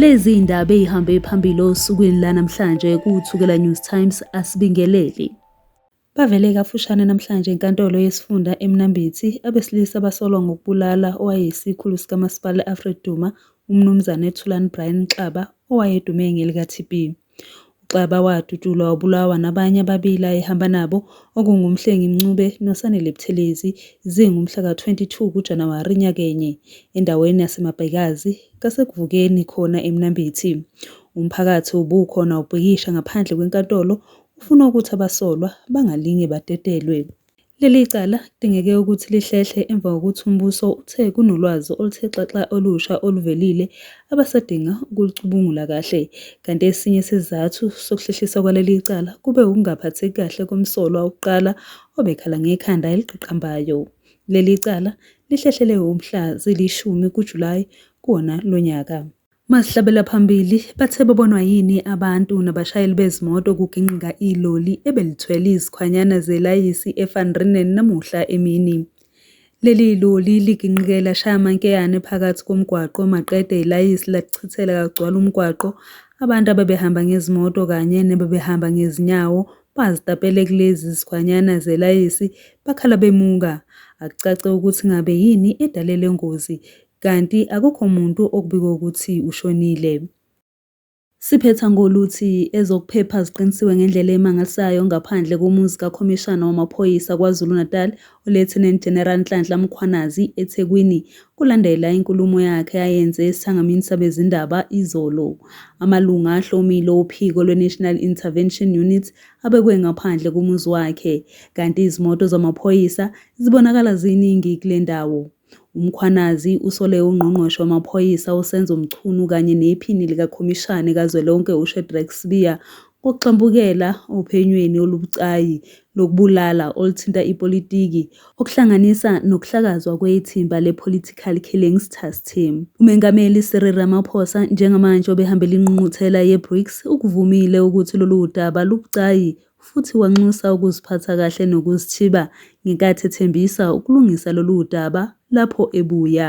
Lezi indaba ezihambe phambili osukwini lanamhlanje kuThukela News Times asibingeleli. Bavele kafushane namhlanje enkantolo yesifunda eMnambithi abesilisa basolwa ngokubulala owayeyisikhulu sikamasipala e-Afred Duma uMnumzane Thulani Brian Xaba owayedume ngelikaTB. UXaba wadutshulwa wabulawa nabanye ababili ayehamba nabo okunguMhlengi Mncube noSanele Buthelezi zingumhla ka-22 kuJanuwari nyakenye endaweni yaseMabhekazi kaSekuvukeni khona eMnambithi. Umphakathi ubukhona ubhikisha ngaphandle kwenkantolo ufuna ukuthi abasolwa bangalinge badedelwe. Leli cala kudingeke ukuthi lihlehle emva kokuthi umbuso uthe kunolwazi oluthe xaxa olusha oluvelile abasadinga ukulicubungula kahle, kanti esinye sezizathu sokuhlehliswa kwaleli cala kube wukungaphatheki kahle komsolwa wokuqala obekhala ngekhanda eliqaqambayo. Leli cala lihlehlele mhla zilishumi kuJulayi kuwona lo nyaka. Mazihlabela phambili bathe babonwa yini abantu nabashayeli bezimoto kugingqika iloli ebelithwele izikhwanyana zelayisi eVan Renen namuhla emini. Leli loli ligingqike lashaya amankeyane phakathi komgwaqo maqede ilayisi lachithela kagcwala umgwaqo abantu ababehamba ngezimoto kanye nebebehamba ngezinyawo bazitapele kulezi zikhwanyana zelayisi bakhala bemuka. Akucace ukuthi ngabe yini edale le ngozi. kanti akukho muntu okubikwe ukuthi ushonile. Siphetha ngoluthi ezokuphepha ziqinisiwe ngendlela emangalisayo ngaphandle komuzi kaKhomishana wamaPhoyisa KwaZulu-Natal, uLieutenant General Nhlanhla Mkhwanazi, eThekwini, kulandela inkulumo yakhe ayenze esithangamini sabezindaba izolo. Amalunga ahlomile ophiko lweNational Intervention Unit abekwe ngaphandle komuzi wakhe, kanti izimoto zamaphoyisa zibonakala ziningi kule ndawo. UMkhwanazi usole uNgqongqoshe wamaPhoyisa uSenzo Mchunu kanye nePhini likaKhomishane kazwelonke uShedrack Sibiya ngokugxambukela ophenyweni olubucayi lokubulala oluthinta ipolitiki, okuhlanganisa nokuhlakazwa kwethimba le-Political Killings Task Team. UMengameli Cyril Ramaphosa njengamanje obehambele ingqungquthela ye-BRICS ukuvumile ukuthi lolu daba lubucayi futhi wanxusa ukuziphatha kahle nokuzithiba ngenkathi ethembisa ukulungisa lolu daba lapho ebuya.